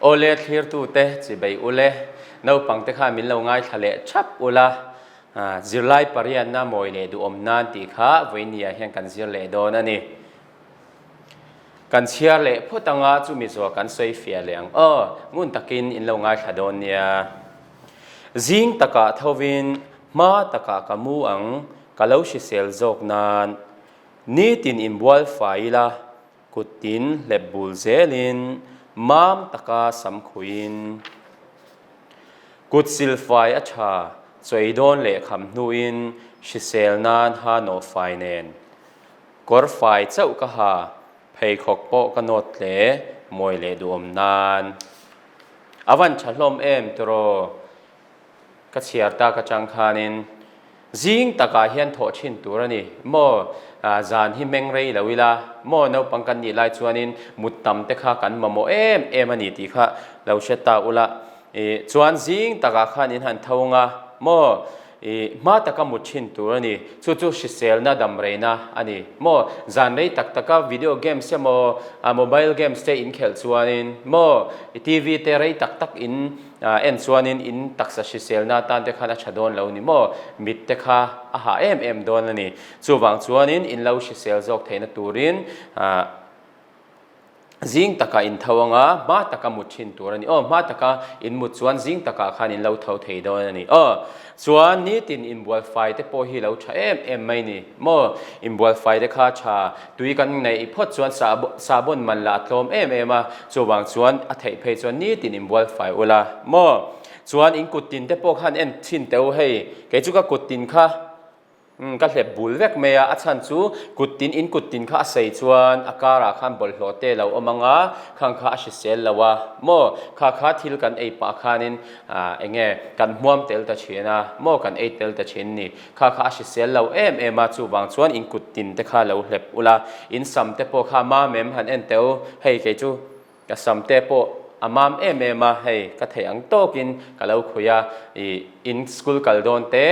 Aw le thlirtute chi bei u le, naupangte kha min lo ngaithla leh thap u la, zirlai pariatna mawi leh duhawm nan tih kha vawinia hian kan zir leh dawn a ni. Kan chhiar leh phawt anga chu mizuaw kan sawi fiah leh ang aw, ngun takin in lo ngaithla dawn nia. Zing takah thovin hma takah ka mu ang, ka lo hrisel zawk nan. Nitin in bual fai ila. Kut in hlep bul zel in, mam taka sam khui in. Kut sil fai a tha, chawi dawn leh kham hnu in hrisel nan ha nawh fai nen. Kawr fai chauh ka ha, pheikhawk pawh ka nawt hle, mawi leh duhawm nan. A van tha hlawm em tiraw? ka chhiar tak atang khanin zing takah hian thawh thin tur a ni. Maw zan hi hmeng rei lo ila, maw naupang kan nih lai chuanin mut tam te kha kan mamawh em em a ni tih kha lo hre ta ula. I chuan zing takah khanin han tho ang a, maw i hma taka mut thin tur a ni. Chu chu hriselna damreina a ni. Maw zan rei tak taka video games emaw mobile games te inkhelh chuanin, maw TV te rei tak tak in, A en chuanin in taksa hriselna atan te khan a tha dawn lo ni maw? Mit te kha a hah em em dawn a ni. Chuvang chuanin in lo hrisel zawk theihna turin zing taka in tho anga hma taka mut thin tur a ni aw. Hma taka in mut chuan zing takah khan in lo tho thei dawn a ni aw. Chuan nitin inbualfai te pawh hi lo tha em em mai ni maw? Inbualfai te kha tha tui kan neih phawt chuan sahbawn man lah a tlawm em em a, chuvang chuan a theih phei chuan nitin inbualfai ula maw? Chuan in kuttin te pawh khan en chhin teh u hei, kei chu ka kuttin kha. Umm, ka hlep bul vek mai a, a chhan chu kut tin in kut tin kha a sei chuan a karah khan bawlhhlawh te lo awm anga khang kha a hrisel lo a, maw kha kha thil kan ei pah khanin ah eng nge kan hmuam tel ta thin a, maw kan ei tel ta thin ni kha kha a hrisel lo em em a, chuvang chuan in kut tin te kha lo hlep ula in sam te pawh kha mamem han en teh u, hei kei chu. Ka sam te pawh a mam em em a, hei ka theih ang tawkin ka lo khui a, ih in school kal dawn te,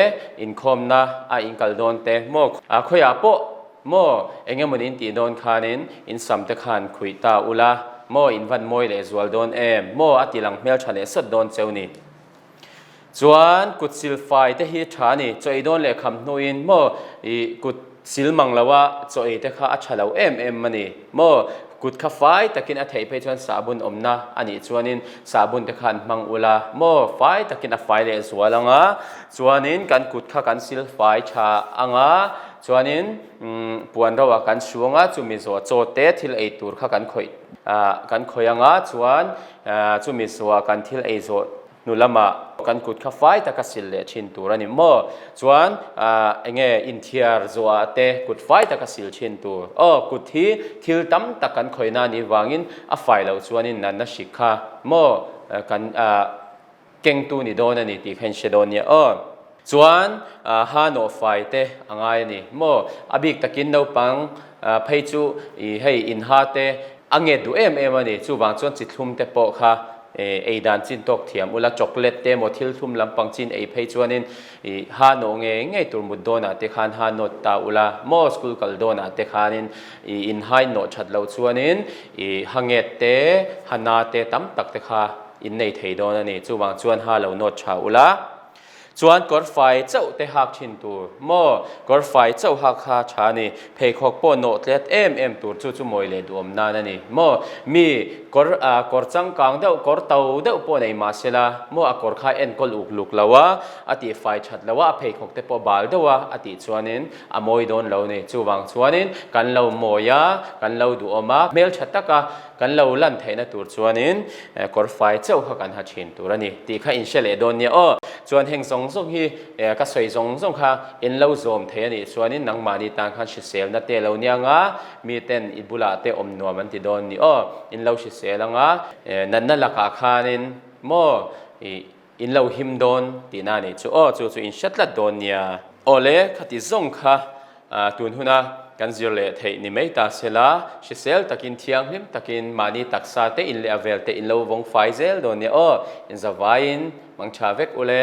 inkhawmna a in kal dawn te maw a khawiah pawh maw eng emaw ni in tih dawn khanin in sam te khan khui ta ula maw in van mawi leh zual dawn em maw a tilang hmel tha leh sawt dawn cheu ni. Chuan kut sil fai te hi tha ni, chaw ei dawn leh kham hnu in maw ih kut sil mang lo a chaw ei te kha a tha lo em em a ni maw, kut kha fai tak in a theih phei chuan sahbun awm na a nih chuan in sahbun te kha an hmang ula maw fai tak in a fai leh zual ang a chuan in kan kut kha kan sil fai tha ang a chuan in umm puan ro ah kan hruang a chu mizaw chaw te thil ei tur kha kan khawih ah kan khawih ang a chuan Chumi suah kan thil ei zawh hnu lamah kan kut kha fai taka sil leh thin tur a ni maw? Chuan enge inthiar zawha te kut fai taka sil thin tur? Aw, kut hi thil tam tak kan khawina nih vangin a fai loh chuan in nanna hrik kha maw? Kan. Kengtu ni dawn a ni tih kha in hre dawn nia aw. Chuan Hano fai te a ngai a ni maw? A bik takin naupang phei chu ih hei in ha te a nge duh em em a ni. Chuvang chuan chi thlum te pawh kha ei dan chin tawk thiam ula chocolate te emaw thil thlum lampang chin ei phei chuanin, I ha nawh nge ngei tur mut dawnah te khan ha nawt ta ula, maw school kal dawnah te khanin i inhain nawh that loh chuanin i ha nget te ha na te tam tak te kha in nei thei dawn a ni, chuvang chuan ha lo nawt tha ula. Chuan kawr fai chauh te hak thin tur, maw kawr fai chauh hak kha tha a ni. Pheikhawk pawh nawh tlat em em tur chu chu mawi leh duhawm nan a ni maw? Mi kawr ah kawr changkang deuh, kawr to deuh pawh nei mah se la, maw a kawr kha en kawl uk luk lo a, a tih fai that lo a, a pheikhawk te pawh bal deuh a, a tih chuanin a mawi dawn lo a ni. Chuvang chuanin kan lo mawi a, kan lo duhawm a, hmel tha tak a. Kan lo lan theihna tur chuanin kawr fai chauh kha kan ha thin tur a ni tih kha in hre leh dawn nia aw. Chuan heng zawng zawng hi ka sawi zawng zawng kha in lo zawm thei a nih chuanin nangmahni tan khan hriselna te lo niang a, mi ten i bulah te awm nuam an ti dawn ni aw. In lo hrisel ang a, natna lakah khanin maw i In lo him dawn tihna a nih chu aw chu chu in hre tlat dawn nia. Awle, khati zawng kha tun huna kan zir leh theih ni mai ta se la, hrisel takin thianghlim takin mahni taksa te in leh a vel te in lo vawng fai zel dawn nia aw, in za vaiin hmang tha vek u le.